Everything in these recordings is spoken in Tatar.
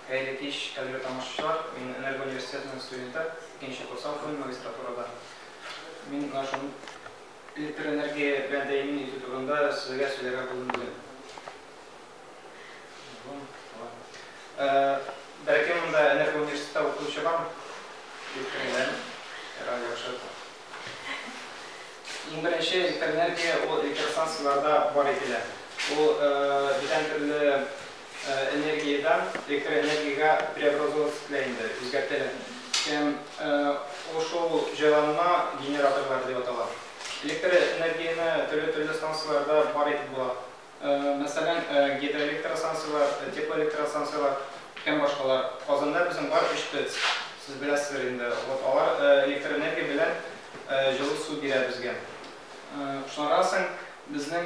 Хәерле кич, кадерле тамашачылар! Мин Энергоуниверситетының студенты, икенче курс укыйм магистратурада. Мин менә шул электроэнергия белән тәэмин итү турында сезгә сөйләргә булдым бүген. Бәлки монда Энергоуниверситетта укытучы бармы? Дип кергән, радио ошата. Иң беренче электроэнергия ул электростанцияләрдә бар ителә. Ул бүтән төрле энергиядән электроэнергиягә преобразовываться ителә инде, үзгәртелә. Һәм ул шул җайланма генераторлары дип атала. Электроэнергияне төрле-төрле станцияләрдә бар итеп була. мәсәлән, гидроэлектростанцияләр, теплоэлектростанцияләр һәм башкалар. Казанда безнең бар өч ТЭЦ, сез беләсездер инде. Вот алар электроэнергия белән җылы су бирә безгә. Шуннан соң безнең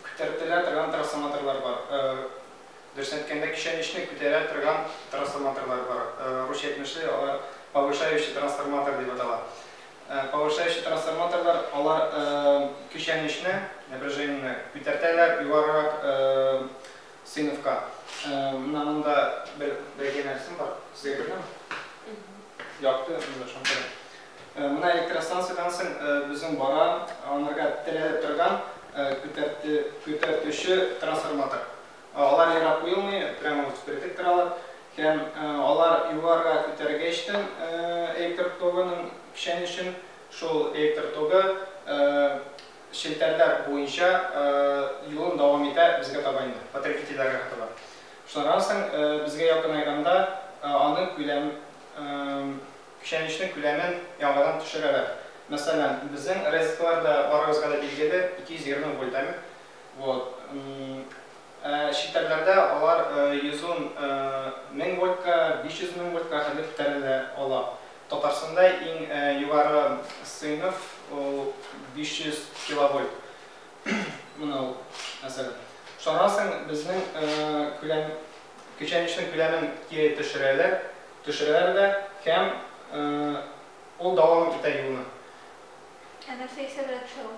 күтәртелә торган трансформаторлар бар. Дөресен әйткәндә, көчәнешне күтәрә торган трансформаторлар бар. Русча әйтмешли, алар повышающий трансформатор дип атала. Повышающий трансформаторлар, алар көчәнешне, напряжениене, күтәртәләр югарырак сыйныфка. Менә монда бер бәйге нәрсәм бар. Сезгә күренәме? Якты, монда шунда. Менә электростанциядән соң безнең бара, анарга терәлеп торган күтәртүче трансформатор. Алар ерак куелмый, прямо вот впритык торалар. Һәм алар югарыга күтәрергә эчтем электр тогының печәнечен. Шул электр тогы челтәрләр буенча юлын дәвам итә безгә таба инде, потребительләргә таба. Шуннан соң безгә якынайганда аны күләм, печәнечнең күләмен яңадан төшерәләр. Мәсәлән, безнең розеткалар да барыгызга да билгеле, 220 вольтамер. Вот. Ә читәрләрдә алар йөзун мең вольтка, 500 мең вольтка кадәр күтәрелә ала. Татарстанда иң югары сыйныф ул 500 киловольт. Менә ул, мәсәлән. Шуннан соң безнең күләм, көчәнешнең күләмен кире төшерәләр, төшерәләр дә һәм ул дәвам итә юлны. Ә нәрсә исәбрәк төшә ул?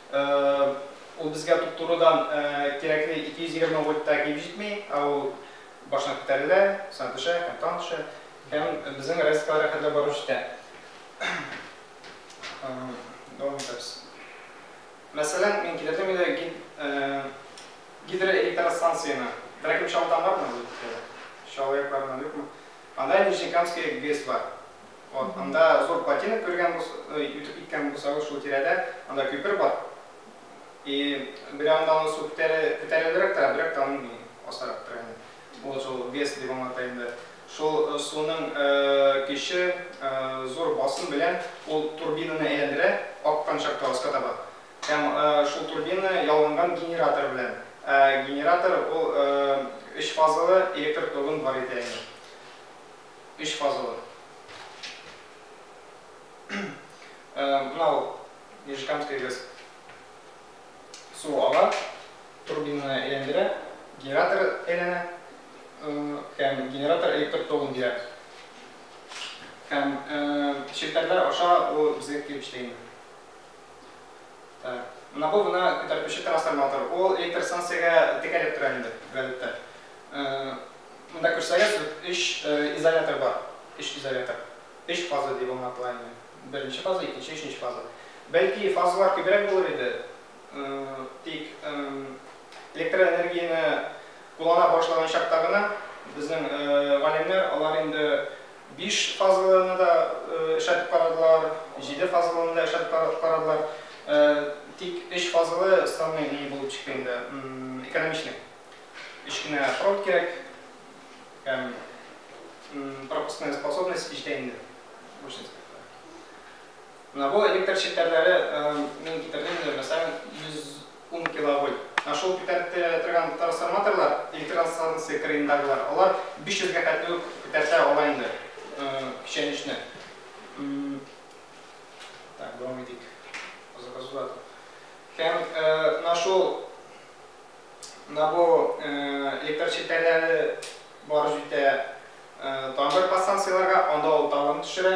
Ул безгә туп-турыдан кирәкле 220 вольтта килеп җитми, ә ул баштан күтәрелә, соңа төшә һәм тагын төшә. Һәм безнең розеткага рәхәтләп барып җитә. Дәвам итәбез. Мәсәлән, мин китердем инде гидроэлектростанцияне. Берәр кем чалт аңлармы? Чалаякларымнан юкмы? Анда Нижнекамская ГЭС бар. Вот, анда зур плотина кергән бу, үтеп киткән булсагыз шул тирәдә, анда күпер бар. И бер анда аны су күтәрә, күтәрелерәк тора, бер якта аның асарак тора инде. Ул шул ГЭС дип аңлата инде. Шул суның көче, зур басым белән ул турбинаны әйләндерә, аккан чакта аска таба. Һәм шул турбина ялганган генератор белән. Ә генератор ул өч фазалы электр тогын бар иде әле. Өч фазалы. Менә ул Нижекамская ГЭС. Су ала, турбинаны әйләндерә, генератор әйләнә һәм генератор электр тогын бирә. Һәм челтәрләр аша ул безгә килеп эшли инде. Менә бу менә күтәртүче трансформатор. Ул электр станциягә текәлеп тора инде бигәләттә. Монда күрсәгез, өч изолятор бар. Өч изолятор. Өч фаза дип аңлатыла инде. Беренче фаза, икенче, өченче фаза. Бәлки фазалар күбрәк булыр иде. Тик электроэнергияне куллана башлаган чакта гына безнең галимнәр алар инде Биш фазалыны да эшләтеп карадылар, җиде фазалыны да эшләтеп карадылар. Тик өч фазалы самый ни булып чыкты инде, экономичный. Өч кенә провод кирәк һәм пропускная способность җитә инде. Менә бу электр челтәрләре мин китердем инде, мәсәлән, 100 Ун киловольт һәм шул күтәреп торган трансформаторлар, электростанция кырыендагылар, алар 500 гә хәтле үк күтәртә ала инде печәнечне. Так, дәвам итик. Азак азак. Һәм менә шул менә бу электр челтәрләре барып җитә тамыр подстанцияләргә, анда ул тагын төшерә.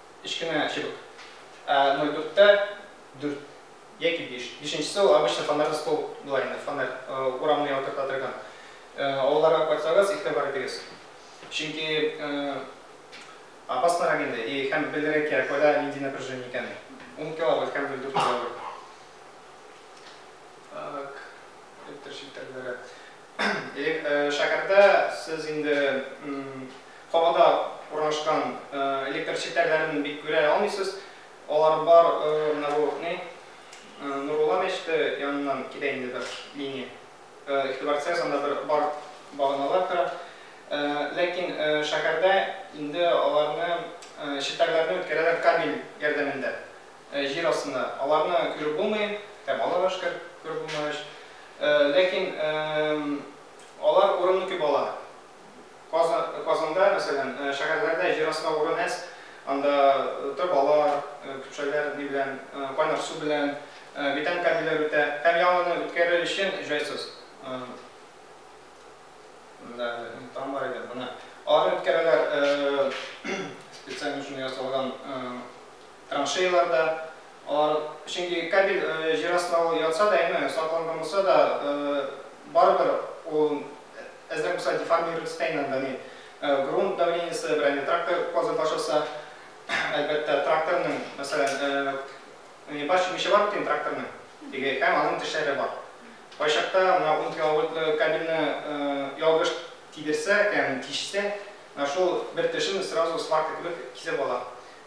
өч кенә чыбык. Ә ноль дүрттә дүрт яки биш. Бишенчесе ул обычный фонарь столб була инде, фонарь урамны яктырта торган. Аларга кайтсагыз, игътибар итегез. Чөнки опаснырак инде и һәм белергә кирәк, кайда нинди напряжение икәнен. Ун киловольт һәм ноль дүрт киловольт. Так, электр челтәрләре. Шәһәрдә сез инде кабада урнашкан электр челтәрләрен бик күрә алмыйсыз. Алар бар, менә бу ни, Нурулла мәчете яныннан китә инде бер линия. Игътибар итсәгез, анда бер бар баганалар тора. Ләкин шәһәрдә инде аларны, челтәрләрне үткәрәләр кабель ярдәмендә. Җир астында. Аларны күреп булмый. Ә балага шкер күреп булмагач. Ләкин алар урынны күп ала. Казан, Казанда, мәсәлән, шәһәрләрдә җир астында урын әз. Анда торбалар, көпшәләр ни белән, кайнар су белән, бетон кабельләр үтә. Һәм яңаны үткәрер өчен җайсыз. Менә әле тан бар иде. Менә аларны үткәрәләр. Специально шундый ясалган. Траншеялар да, алар, чөнки кабель җир астына ул ятса да, әйме, сакланган булса да, барыбер ул әзрәк булса деформируется да инде анда, әйме, грунт давлениесе, берәр инде трактор казып башласа, әлбәттә, тракторның, мәсәлән, менә бар чүмече бар бит инде тракторның, теге, һәм аның тешләре бар. Кайчакта менә ун киловольтлы кабельне ялгыш тидерсә, ягъни тишсә, менә шул бер тешен сразу сварка кебек кисеп ала.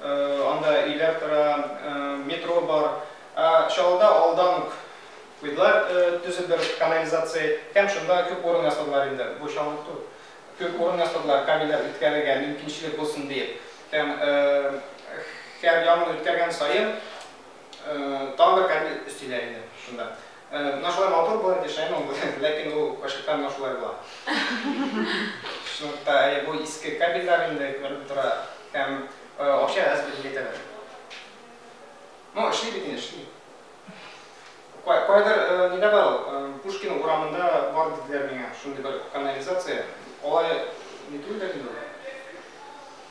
Анда өйләр тора, метро бар. Ә Чаллыда алдан ук куйдылар төзеп бер канализация һәм шунда күп урын ясадылар инде. Бу чаллык түгел. Күп урын ясадылар кабельләр үткәрергә мөмкинчелек булсын диеп. Һәм һәр яңгыр үткәргән саен тагын бер кабель өстиләр инде шунда. Менә шулай матур булып яшәгән ул, ләкин ул кайчакта менә шулай була. Шунлыктан әле бу иске кабельләр инде күренеп тора һәм акча әз бүләк итәләр. Ну, эшли бит инде, эшли. Кайбер нидә бар ул, Пушкин урамында бар диделәр миңа, шундый бер канализация. Алай ни түгелдер инде ул.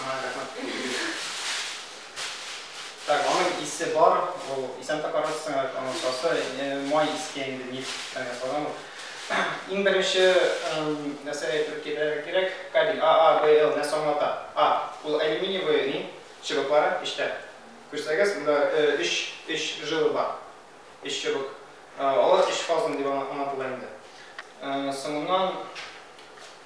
Ага, рәхмәт. Так, аның исе бар, ул исән тапарыз соң, аның сасы, май искә инде нефть фән ясалган ул. Иң беренче нәрсә әйтеп китәргә кирәк, кабель AABL нәрсә аңлата? А, ул алюминиевый ни, чыбыклары эчтә. Күрсәгез, монда өч, өч жила бар, өч чыбык. Алар өч фазалы дип аңлатыла инде. Соңыннан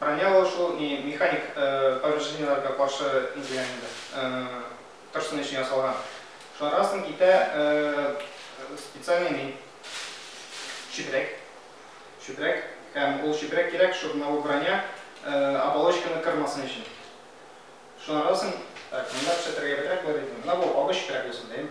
Броня ул шул ни механик повреждениеләргә каршы низиләр инде, торсын өчен ясалган. Шуларга соң китә специальный ни чүпрәк. Чүпрәк һәм ул чүпрәк кирәк, шул менә ул броня оболочканы кырмасын өчен. Шуларга соң так, монда пешертергә бетрәк булыр иде. Менә бу агы чүпрәк булсын, дим.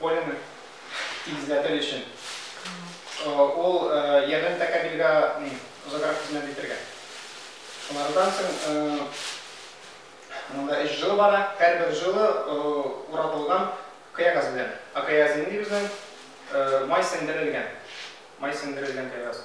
Поляны тигезләтер өчен. Ул ярдәм тәкәбилгә озаграк хезмәт итергә. Шунардан соң монда өч жила бара. Һәрбер жила уратылган кыягаз белән. Акаязин дибез май сеңдерелгән. Май сеңдерелгән кыягаз.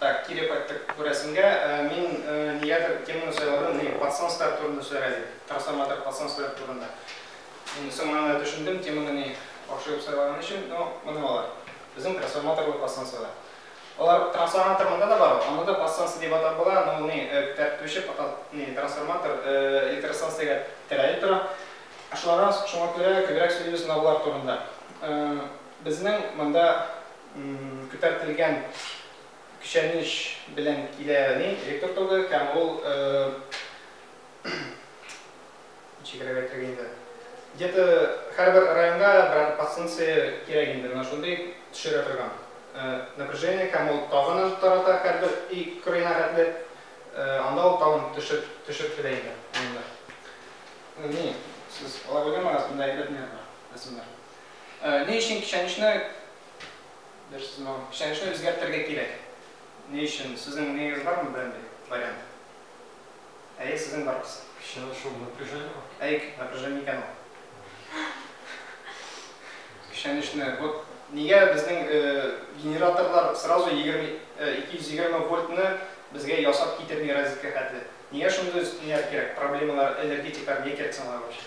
Так, кире кайттык бу рәсемгә. Мин нигәдер теманы сайладым, нигә пацанстар турында сөйләргә дип. Трансформатор пацанстар турында. Мин соң аны төшендем, теманы ни яхшы итеп сайлаган өчен, но моны алар. Безнең трансформаторлы пацанстар. Алар трансформатор монда да бар, аны да пацанстар дип атап була, но ул ни күтәртүче ни трансформатор электростанциягә терәлеп тора. Шулардан шуңа күрә күбрәк сөйлибез, но болар турында. Безнең монда күтәртелгән көчәнеш белән килә яни электр тогы һәм ул ничегрәк әйтергә инде где то һәрбер районга берәр подстанция кирәк инде менә шундый төшерә торган напряжение һәм ул тагын тарата һәрбер өй кырыена хәтле анда ул тагын төшеп төшеп килә инде анда ни сез ала белгәнме рәсемдә әйбәт нервы рәсемнәр Ни өчен печәнечне, бер сүз миңа, печәнечне үзгәртергә кирәк? Ни өчен? Сезнең нигез бармы берәндәй вариант? Әйе, сезнең барыгыз. Печәнеч шул напряжение ма? Әйк, напряжение икән ул. Печәнечне, вот нигә безнең генераторлар сразу егерме, ике йөз егерме вольтны безгә ясап китерми розетка хәтле? Нигә шундый өстеннәр кирәк, проблемалар, энергетиклар, нигә кирәк соң алар вообще?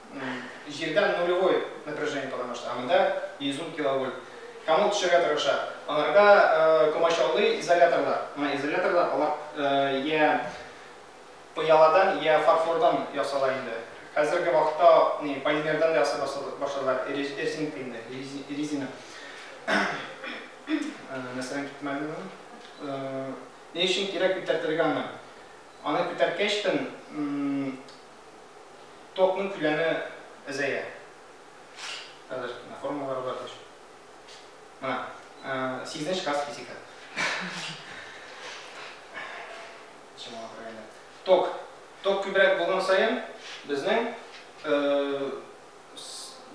җирдән нулевой напряжение кала башлый, ә монда 110 киловольт. Һәм ул төшәргә тырыша. Аларга комачаулый изоляторлар. Менә изоляторлар, алар йә пыяладан, йә фарфордан ясала инде. Хәзерге вакытта полимердан да ясый башладылар, резинка инде, резина. Нәрсәдән киттем әле мин ул? Ни өчен кирәк күтәртергә аны? Аны күтәрткәч тен Токның күләме әзәя. Хәзер менә формулалары бар диш. Менә, сигезенче класс физика. Чамалап Ток. Ток күбрәк булган саен безнең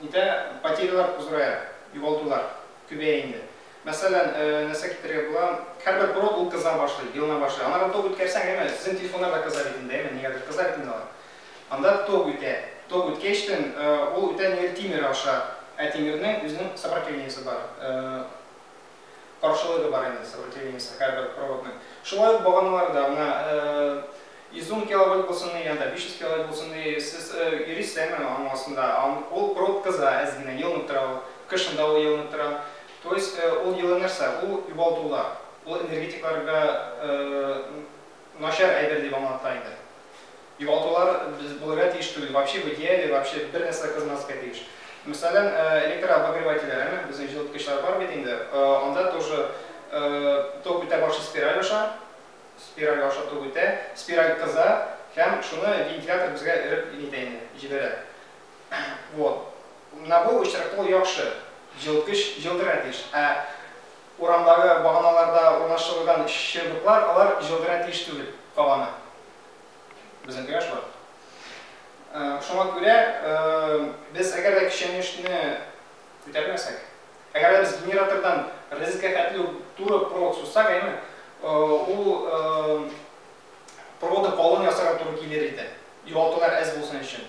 Нидә потерялар кузурая, югалтулар күбәя инде. Мәсәлән, нәрсә китерергә була? Һәрбер проб ул кыза башлый, елына башлый. Аннары ток үткәрсәң, әйме, сезнең телефоннар да кыза бит инде, әйме, нигәдер кыза бит инде алар. Анда ток үтә. Ток үткәчтен, ул үтә нигәдер тимер аша. Ә тимернең үзенең сопротивниясе бар. каршылыгы бар инде сопротивлениесе һәрбер проводның. Шулай ук баганалар да, менә 110 киловольт булсын ди, янда 500 киловольт булсын ди, сез йөрисез әйе менә аның астында, ул провод кыза әз генә, елынып тора ул, кышын да ул елынып тора. То есть ул йылы нәрсә, ул югалтулар, ул энергетикларга Начар әйбер дип аңлата иде. Югалтулар без булырга тиеш түгел, вообще в идеале вообще бер нәрсә дә кызмаска тиеш. Мәсәлән, электрообогревательләр, әмма безнең җылыткычлар бар бит инде, анда тоже ток үтә башлый спираль аша, спираль аша ток үтә, спираль кыза һәм шуны вентилятор безгә эреп нитә инде, җибәрә. Вот. Менә бу очракта ул яхшы, җылыткыч җылытырга тиеш. Ә Урамдагы баганаларда урнаштырылган чыбыклар, алар җылгырә тиеш түгел, кабана. Безнекеләр шулай. Шуңа күрә без әгәр дә көчәнешне күтәрмәсәк, әгәр дә без генератордан розетка хәтле үк туры провод сузсак, әйеме, ул проводы калын ясарга туры килер иде, югалтулар әз булсын өчен.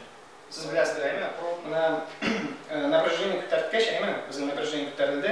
Сез беләсез, әйеме, проводны напряжение күтәрткәч, әйеме, безнең напряжение күтәрелде,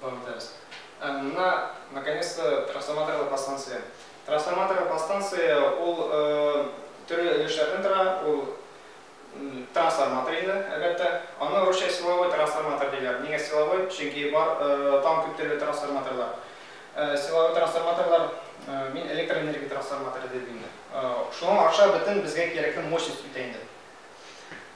Танытабыз. Ә менә наконец-то трансформаторлы подстанция. Трансформаторлы подстанция ул төрле өлешләрдән тора, ул трансформатор инде, әлбәттә. Аны русча силовой трансформатор диләр. Нигә силовой? Чөнки бар тагын күп төрле трансформаторлар. Силовой трансформаторлар мин электроэнергия трансформаторы дидем инде. Шуңа аша бөтен безгә кирәкле мощность үтә инде.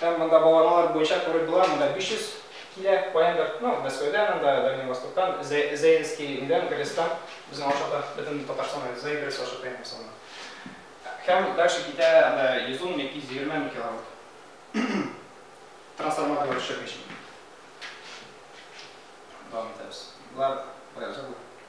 Һәм монда багланалар буенча туры была, монда 500 килә, каяндыр, ну, Мәскәүдән анда, Дальний Востоктан, Зәй, Зәйдовский өйдән, Гресстан, безнең аша да, бөтен Татарстан, Зәй, Гресс аша тәен булса гына. Һәм дальше китә анда 110 яки 120 мең киловатт. Трансформаторлар төшермичә. Дәвам итәбез. Болар, болай уза бу.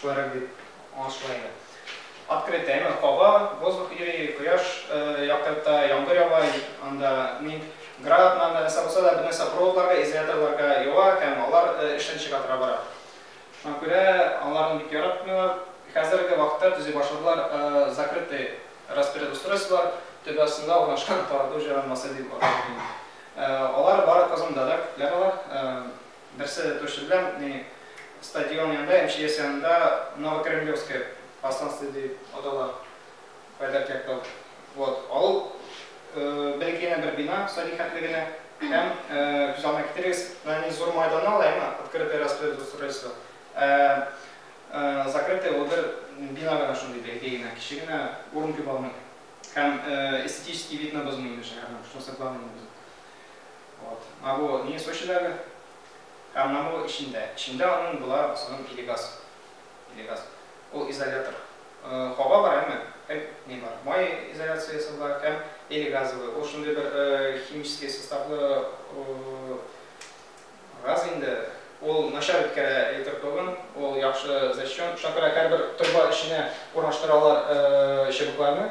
Шулайрак дип аңлашыла инде. Открытая, яме каба, воздух йөри, кояш яктырта, яңгыр ява, анда ни, град, нанда нәрсә булса да, бер нәрсә проводларга, изоляторларга ява һәм алар эштән чыга тора бара. Шуңа күрә аларны бик яратмыйлар. Хәзерге вакытта төзи башладылар закрытый распредустройстволар, төбе астында урнашкан тарату җайланмасы дип атап йөрим. Алар бары Казанда да күпләр алар. Берсе торчы белән ни стадион янында, МЧС янында Новокремлевское Постанство ди атала. Пәдәркәк тау. Вот. Ал бәлкенә бер бина садик хәтле генә. Һәм күз алдына китерегез, нани зур майдан ала, әмма открытое распределение устройство. Закрытое ул бер бина гына шундый бәләкәй генә, кече генә урын күп аның. Һәм эстетический видны бозмый инде шәһәрнең, шунысы главный инде. Вот. Менә бу ни Сочидагы һәм менә бу эчендә. Эчендә аның була соның Пелегас. Пелегас. Ул изолятор. Хаба бар, әмма һәм ни бар. Май изоляциясе бар һәм элегазовый. Ул шундый бер химический составлы газ инде. Ул начар үткәрә электр тогын. Ул яхшы защён. Шуңа күрә һәрбер торба эченә урнаштыралар чыбыкларны.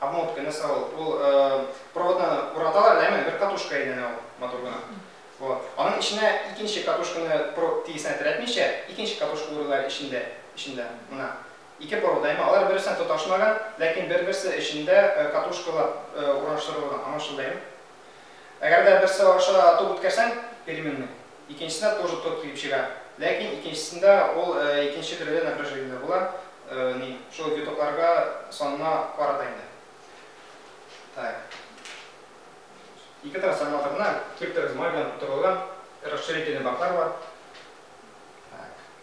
Обмотка нәрсә ул? Ул проводны ураталар да, әмма бер катушка әйләнә ул матур гына. Вот. Аның эченә икенче катушканы провод тигезенә терәтмичә, икенче катушка урыйлар эчендә, эчендә. Менә ике провод, әмма алар берсенә тоташмаган, ләкин бер-берсе эчендә катушкалар урнаштырылган, аңлашылды, әйеме? Әгәр дә берсе аша ток үткәрсәң, переменный, Икенчесенә тоже тот киеп чыга. Ләкин икенчесендә ул икенче төрле напряжение дә була, ни, шул витокларга санына карата инде. Так. Ике трансформаторны киптерегез май белән тутырылган расширительный баклар бар. Так.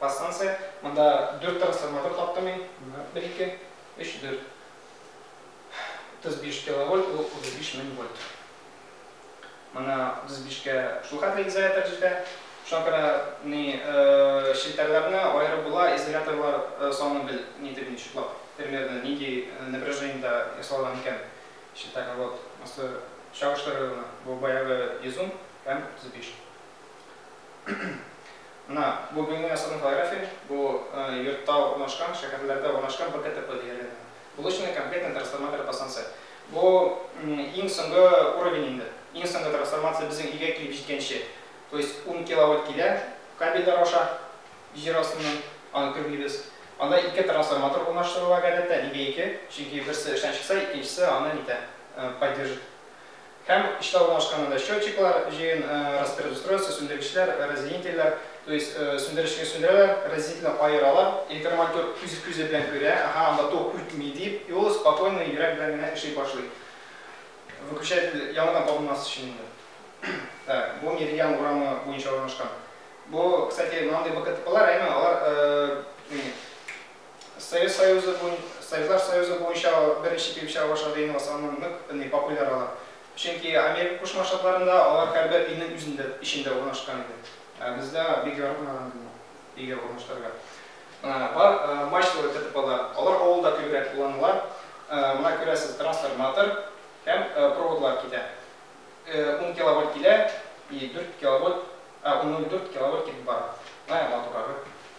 Подстанция, монда дүрт трансформатор каптым мин, бер ике, өч, дүрт. 35 киловольт, ул 35 мең вольт. Моны 35-кә шул хәтле изолятор җитә. Шуңа күрә ни челтәрләрне аерып була, изоляторлар саны бел, ни дип ничеклап, примерно нинди напряжениедә ясалган икән челтәр. Вот, монысы чагыштырырга гына, бу баягы 100 ом һәм 35. Менә бу Бөйнең Асылын фотография, бу йортта урнашкан, шәһәрләрдә урнашкан БКТП диярлек инде. Булочная комплектная трансформатор по станция. Бу иң соңгы уровень инде. Иң соңгы трансформация безнең өйгә килеп җиткәнче. То есть ун киловольт килә кабельләр аша җир астыннан, аны көрлибез. Анда ике трансформатор урнаштырыла гадәттә, нигә ике? Чөнки берсе эштән чыкса, икенчесе аны нитә, поддержит. Һәм эштә урнашкан анда счетчиклар, җыен распредустройство, сүндергечләр, разъединительләр, то есть сүндеречне сүндерәләр, разъединительне аералар, информатёр үз күзе белән күрә, аһа, анда ток үтми дип, и ул спокойно йөрәк белән генә эшли башлый. Выключатель яңадан табылмас өчен инде. Так, бу Меридиан урамы буенча урнашкан. Бу, кстати, мондый БКТПлар, әйме, алар Совет Союзы буен, Советлар Союзы буенча беренче килеп чыга башлады инде Ватсап ның нык ни популяр алар. Чөнки Америка Кушма Штатларында алар һәрбер илнең үзендә, эчендә урнашкан иде. Ә бездә бик яратмаган иде моны өйгә урнаштырырга. Менә бар мачталы ТТПлар, алар авылда күбрәк кулланыла. Менә күрәсез, трансформатор һәм проводлар китә. Ун киловольт килә и дүрт киловольт, а ун ноль дүрт киловольт китеп бара. Менә матурагы.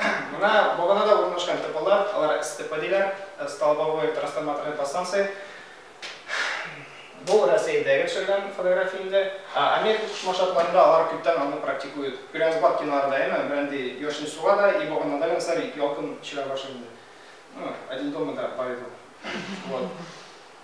Менә баганада урнашкан типалар, алар СТП диләр, столбовой трансформаторный подстанция. Бу Рәсәйдәге төшергән фотография инде. Америка Кушма Штатларында алар күптән аны практикуют. Күрәбез бар киноларда, әйме, берәндәй яшен суга да и баганада гына сәби ялкын чыгара башлый инде. Ну, Один дома да бар иде ул. Вот.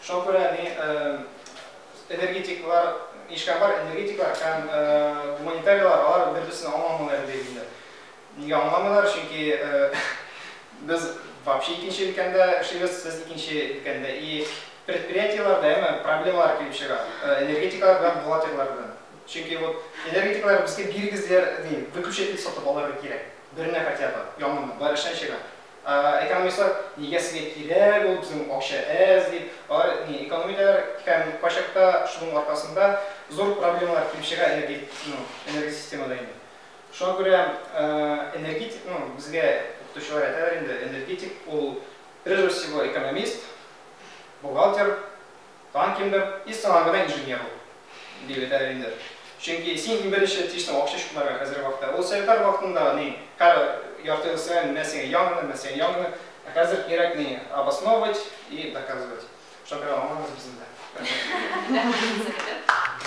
Шуңа күрә ни энергетиклар, нишкәмбар энергетиклар һәм гуманитариялар алар бер-берсен аңламыйлар бит инде. Нигә аңламыйлар? Чөнки без вообще икенче өлкәндә эшлибез, сез икенче өлкәндә. И предприятиелар да әмма проблемалар килеп чыга. Энергетиклар белән бухгалтерлар белән. Чөнки вот энергетиклар безгә бирегез диләр, ди, выключатель сатып алырга кирәк. Берне хотя бы, яңаны, бар эштән чыга. Экономистлар нигә сезгә кирәк ул безнең акча әз дип, алар ни эконом итәләр һәм кайчакта шуның аркасында зур проблемалар килеп чыга энергосистемада инде. Шуңа күрә энергетик, ну безгә укытучылар әйтәләр инде, энергетик ул прежде всего экономист, бухгалтер, Тагын кемдер, И сиңа гына инженер ул! дип әйтәләр инде. Чөнки син иң беренче тиштең акча чукмарга хәзерге вакытта. Ул советлар вакытында ни, кара, ярты ел эшләгән, менә сиңа яңадан, менә сиңа яңадан. Ә хәзер кирәк ни, обосновывать и доказывать. Шуңа күрә аңламыйбыз без инде. Рәхмәт. Рәхмәт сезгә дә.